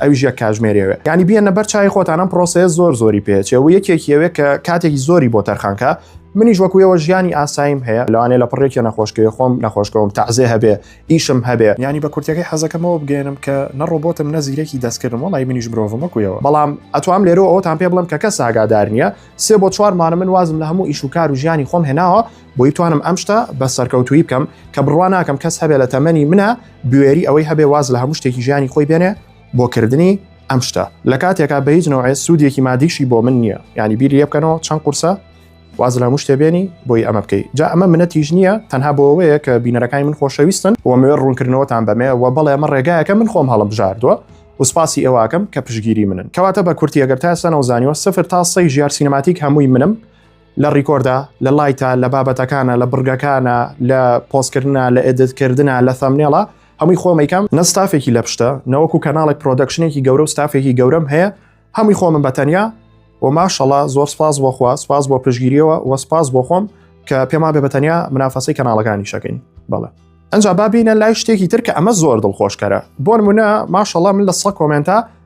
ئەویش یەک کاژمێر یەوێ یانی بیەنە بەر چای خۆتان ئەم پرۆسەیە زۆر زۆری پێچێ و یەکێک یەوێ کە کاتێکی زۆری بۆ تەرخانکە منیش وەکوێەوە ژیانی ئاساییم هەیە لەوانێ لە پڕێکی نەخۆشکەوێ خۆم نەخۆشکەوم تازێ هەبێ ئیشم هەبێ ینی بە کورتەکەی حەزەکەمەوە بگەێنم کە نەڕۆبتم نەزیرەکی دەستکردم وڵی منیش مرۆڤمەکویەوە بەڵام ئەتوام لێرە ئەوتان پێ بڵم کە کە ساگادار نییە سێ بۆ چوارمانە من وازم لە هەموو ئیش و کار و ژیانی خۆم هێناوە بۆی توانم ئەم شتە بە سەرکەوتوی بکەم کە بڕوا ناکەم کەس هەبێ لە تەمەنی منە بوێری ئەوەی هەبێ واز لە هەموو شتێکی ژیانی خۆی بێنێ بۆ کردنی ئەم شتە لە کاتێکا بە هیچ نەوەێ سوودێکی مادیشی بۆ من نییە ینی بیر لێ بکەنەوە چەند قورسە واز لە مشتێ بێنی بۆی ئەمە بکەیت جا ئەمە منە تیژ نییە تەنها بۆەوەیە کە بینەرەکانی من خۆشەویستن ومێ ڕوونکردنەوەتان بەمێ و بەڵێ ئەمە ڕێگایەکە من خۆم هەڵم بژاردووە وسپاسی ئێواکەم کە پشگیری منن کەواتە بە کورتی ئەگەر تاسەەوە زانیوە سفر تا سەی ژیار سینەماتیک هەمووی منم لە ڕیکۆردە، لە لایتە، لە بابەتەکانە، لە بڕگەکانە، لە پۆستکردنە، لە ئێدتکردنە، لە ثەمنێڵە، هەمووی خۆم ئەیکەم، نە ستافێکی لە پشتە، نەوەکو کەناڵێک پرۆدەکشنێکی گەورە و ستافێکی گەورەم هەیە، هەمووی خۆمم بە تەنیا و ماشەڵا زۆر سپاس بۆ خوا، سپاس بۆ پشتگیریەوە و سپاس بۆ خۆم کە پێمان بێ بە تەنیا منافەسەی کەناڵەکانیشەکەین بەڵێ. ئەنجا با بینە لای شتێکی تر کە ئەمە زۆر دڵخۆشکەرە بۆ نمونە ماشەڵا من لە سە کۆمێنتا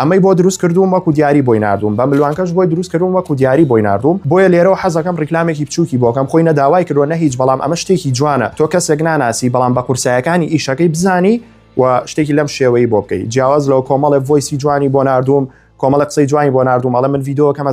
ئەمەی بۆ دروست کردووم وەکو دیاری بۆی نردووم بە ملوانکەش بۆی دروست کردووم وەکو دیاری بۆی نردووم بۆیە لێرەوە حەزەکەم ڕیکلامێکی بچووکی بۆکەم خۆی نە داوای کردووە نە هیچ بەڵام ئەمە شتێکی جوانە تۆ کەسێک ناناسی بەڵام بە قورسایەکانی ئیشەکەی بزانی و شتێکی لەم شێوەی بۆ بکەیت جیاواز لەوە کۆمەڵێ ڤۆیسی جوانی بۆ نردووم کۆمەڵە قسەی جوانی بۆ نردووم ئەڵە من یددیوەکەمە